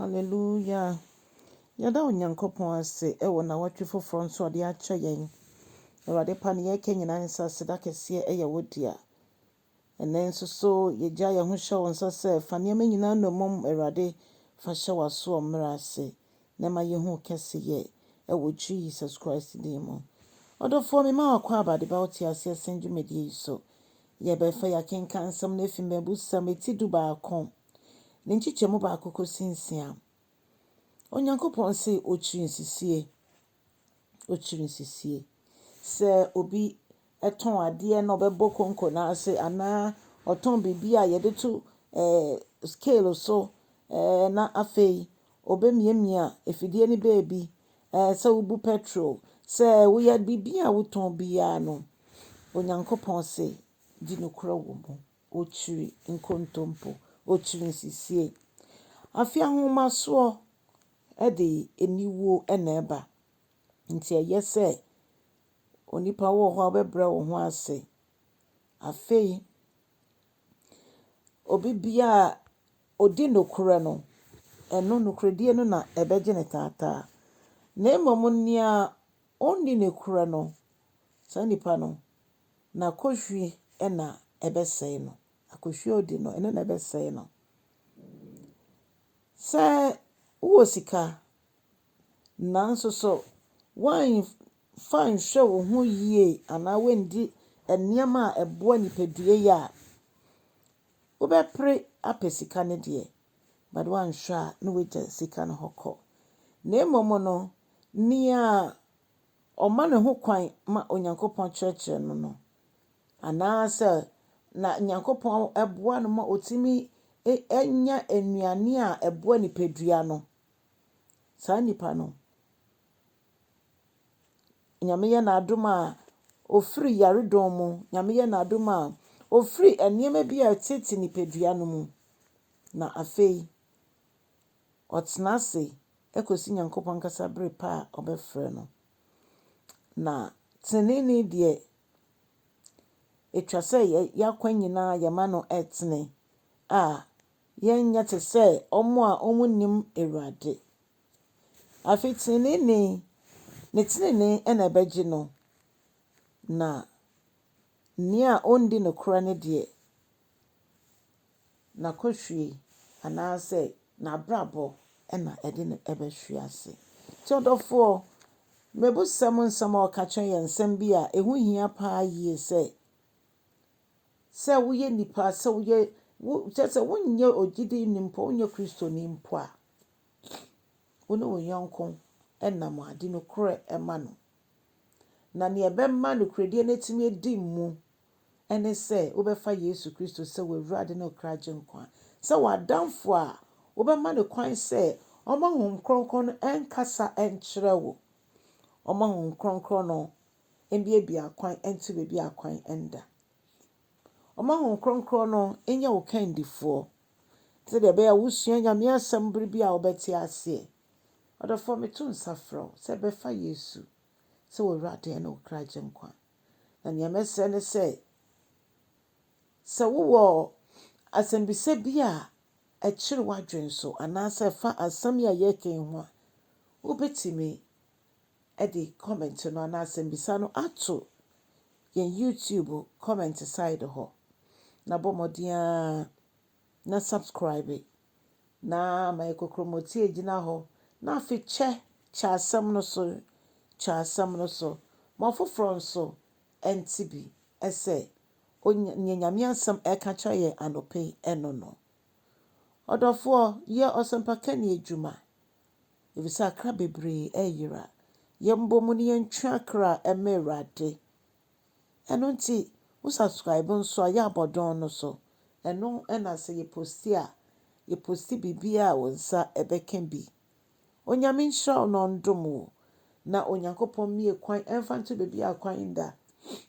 Hallelujah! Yɛda Onyankopɔn ase wɔ nawɔtwe foforɔ nso a ɔde akyɛ yɛn. Awurade pa neɛ ɛka nyinaa nsa aseda kɛseɛ yɛ wo dea. Ɛnɛ nso so yɛgya yɛn ho hyɛ wo nsa sɛ fa nneɛma nyinaa nnommum Awurade fa hyɛ w'asoɔ mmerɛ ase na ɛma yɛhu wo kɛseyɛ wɔ Jesus Christ din mu. Ɔdɔfoɔ me ma wakɔ aba de ba wo te aseɛ sɛn dwumadie yi so. Yɛbɛfa yɛakenkan nsɛm no afi mmɛbusɛm ɛti du baako ne nkyekyɛmu baako kɔsi nsia. Onyankopɔn se ɔkyiri nsisie, ɔkyiri nsisie. Sɛ obi tɔn adeɛ na ɔbɛbɔ konko no ase anaa ɔtɔn biribi a yɛde to ɛɛ scale so ɛɛ na afei ɔbɛmiamia afidie no baabi ɛɛ sɛ wobu petrol sɛ woyɛ biribi a wotɔn biara no, Onyankopɔn se di nokorɛ wɔ mu. Okyiri nkontompo, okyiri nsisie. Afe ahomasoɔ de aniwuo na ɛba. Nti ɛyɛ sɛ onipa wɔ hɔ a wobɛbrɛ wo ho ase. Afei, obi biara a ɔdi nokorɛ no, ɛno nokorɛdie no na ɛbɛgye no taataa. Na mmom nea ɔnni nokorɛ no, saa nipa no, Na kohwi na ɛbɛsɛe no. Akohwi a odi no, ɛno na ɛbɛsɛe no. Sɛ wowɔ sika, nanso so woamfa anhwɛ wo ho yie anaa woandi nneɛma a ɛboa nipadua yi a, wobɛpere apɛ sika no deɛ, but woanhwɛ a na woagya sika no hɔ kɔ. Na mmom no, nea ɔma ne ho kwan ma Onyankopɔn kyerɛkyerɛ no no, anaasɛ na Nyankopɔn boa no ma ɔtumi nya nnuane a ɛboa nipadua no, saa nipa no, Nyame yɛ n'adom a, ɔfiri yaredɔm mu, Nyame yɛ n'adom a, ɔfiri nneɛma bi a ɛtete nipadua no mu, na afei, Ɔtena ase kosi Nyankopɔn ankasa bere pa a ɔbɛfrɛ no. Na teneneeni deɛ, etwa sɛ yɛn akwan nyinaa yɛma no tene a yɛnyɛ te sɛ wɔn a wɔnnim Awurade. Afei teneneeni, ne tenenee na ɛbɛgye no, na nea ɔnni nokorɛ no deɛ, n'akɔhwie anaasɛ n'abrabɔ na ɛde no bɛhwe ase. Nti ɔdɔfoɔ, mmɛbusɛm nsɛm a ɔka kyerɛ yɛn, nsɛm bi a ɛho hia paa yie sɛ, sɛ woyɛ nipa, sɛ woyɛ, wo, kyerɛ sɛ wonyɛ ogyidini mpo, wonyɛ kristoni mpo a, wo ne wo yɔnko nam ade nokorɛ ma no. Na nea ɛbɛma nokorɛdie no atumi adi mu ɛne sɛ wobɛfa Yesu Kristo sɛ w'Awurade ne wo kra Agyenkwa, sɛ w'adamfo a wobɛma no kwan sɛ ɔmma Honhom Kronkron no nkasa nkyerɛ wo, ɔmma Honhom Kronkron no mbiabia akwan nte baabi a akwan nda, ɔmma Honhom Kronkron no nyɛ wo kandifoɔ, sɛdeɛ ɛbɛyɛ a wosua Nyame Asɛm bere bi a wobɛte aseɛ. Ɔdɔfoɔ, meto nsa frɛ wo sɛ bɛfa Yesu sɛ w'Awurade ne wo kra Agyenkwa. Na nea mɛsrɛ ne sɛ, sɛ wowɔ asɛmmisa bi a ɛkyere w'adwene so anaasɛ ɛfa asɛm yi a yɛreka yi ho a, wobɛtumi de comment no anaa asɛmmisa no ato yɛn YouTube comment side hɔ. Na bɔ mmɔden ara na subscribe na ma yɛ kokromoti agyina hɔ na afe kyɛ kyɛ asɛm no so kyɛ asɛm no so ma ɔfoforɔ nso ɛnte bi ɛsɛ onya nyɛ nyame asɛm ɛka kyerɛ yɛ anɔpɛ yi ɛno no ɔdɔfoɔ yɛ ɔsɛmpaka ni adwuma efisɛ akra bebree ɛyera yɛn bɔ mu ne yɛn twe akra ɛmɛ awurade. Ɛno nti wo subscribe nso a yɛ a bɔ dɔn no so. Ɛno na sɛ yɛ posti a yɛ posti biribiara a wo nsa ɛbɛka bi. Onyame nhyira wo na ɔndom wo na Onyankopɔn mmie kwan ɛmfa nto baabiara kwan nda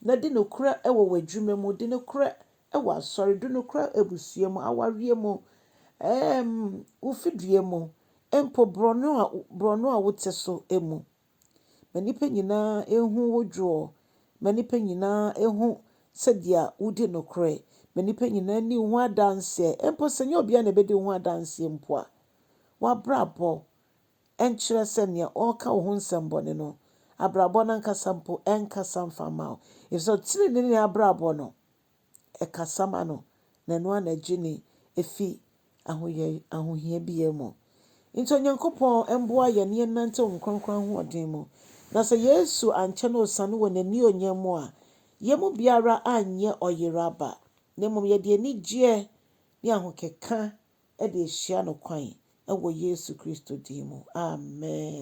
na di nokorɛ wɔ w'adwuma mu, di nokorɛ wɔ asɔre, di nokorɛ abusua mu, awareɛ mu, ɛɛm wo fidua mu, mpo borɔno a borɔno a wote so mu. Ma nnipa nyinaa nhu wo dwoɔ. Ma nnipa nyinaa nhu sɛdeɛ wodi nokorɛ. Ma nnipa nyinaa nni wo ho adanseɛ. Mpo sɛ ɛnyɛ obiara na ɛbɛdi wo ho adanseɛ mpo a, w'abrabɔ nkyerɛ sɛ nea ɔreka wo ho nsɛmmɔne no, abrabɔ no ankasa mpo nkasa mfa mma wo. Ɛfiri sɛ ɔteneneeni abrabɔ no, ɛkasa ma no, na ɛno ara na ɛgye no fi ahoyɛ ahohia biara mu. Nti Onyankopɔn mboa yɛn na yɛnnantew Honhom Kronkron ahoɔden mu. Na sɛ Yesu ankyɛ na osian wɔ N'annuonyam mu a, yɛn mu biara annyɛ ɔyeraba, na mmom yɛde anigyeɛ ne ahokeka de ahyia no kwan wɔ Yesu Kristo din mu. Amen.